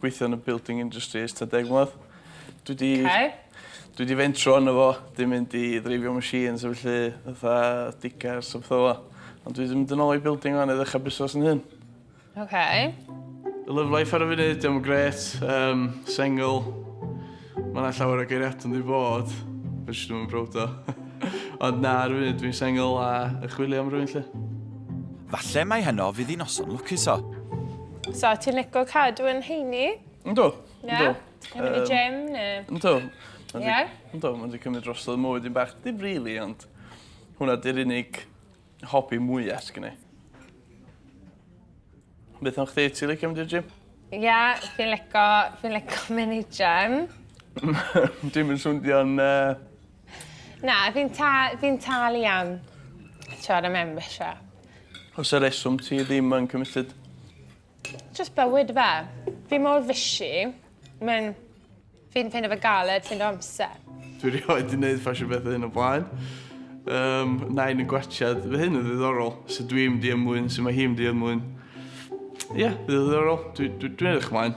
gweithio yn y building industry ers ta deg mlynedd. Dwi di... Okay. Dwi di fentro yn efo, di mynd i ddreifio machines a felly, fatha digars a pethau Ond dwi di mynd yn ôl i building o'n i ddechrau busnes yn hyn. Okay. Love life ar y funud, diolch yn gret, um, single. Mae yna llawer o geiriadau'n ddi fod, fe jyst ddim yn browd o. Ond na, ar y funud dwi'n sengl a yn chwilio am rwy'n lle. Falle mai heno fydd i noson lwcus o. So, ti'n lico cadw yn heini? Yndw, yndw. Ti'n mynd i gym ne? Yndw. Ie? Yndw, mae'n di cymryd drosodd mywyd i'n bach. Dim rili, ond hwnna di'r unig hobi mwya sy gen i. Beth am chdi? Ti licio mynd i'r gym? Ia, fi'n lico, fi'n lico mynd i gym. Dim yn swnio'n... Uh... Na, fi'n ta, fi talu am siarad am membership. Os y reswm ti ddim yn committed? Just bywyd fe. Fi mor fishy. Mae'n... Fi'n ffeindio fe galed ffeindio amser. Dwi rioed wedi gwneud ffasiwn bethau hyn o blaen. Um, nain yn gwachad. Fe hyn yn ddiddorol. So dwi'n mynd i ymwyn, so mae hi'n mynd i ymwyn. Ie, yeah, ddiddorol. Dwi'n dwi, dwi edrych ymlaen.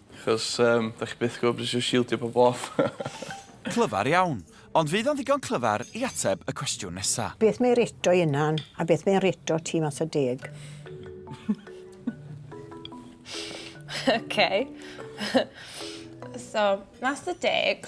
Achos yym dach chi byth yn gwbod be' sy isio shieldio pobol off. Clyfar iawn, ond fydd o'n ddigon clyfar i ateb y cwestiwn nesa? Beth mae reto i Unan a beth mae reto ti mas o deg? ok so mas o deg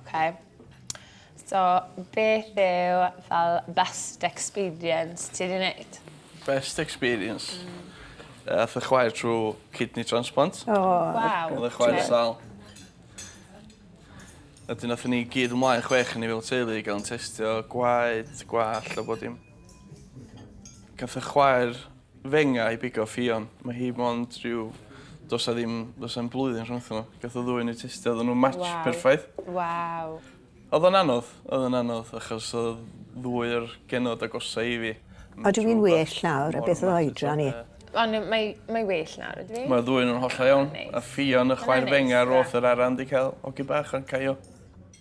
Okay. So, beth yw fel best experience ti wedi wneud? Best experience? Mm. Uh, ath y chwaer trwy kidney transplant. O, oh, wow. Oedd y chwaer sal. A dyn nath ni gyd ymlaen chwech ni fel teulu i gael yn testio gwaed, gwall a bod dim. Gath y chwaer Venga i bigo Ffion. Mae hi mond rhyw... Does 'na ddim... Does 'na'm blwyddyn rhwngthyn nhw. Gath y ddwy yn eu testio oddan nhw'n match perffaith. Waw. Odd o'n anodd. Odd o'n anodd achos odd ddwy o'r genod agosa i fi. Ydw i'n well nawr a beth oedd oedran i? O na mae mae well nawr ydw i. Ma'r ddwy o nhw'n hollol iawn. A Ffion y chwaer Venga roth yr ara yn 'di cael hogyn bach yn caio.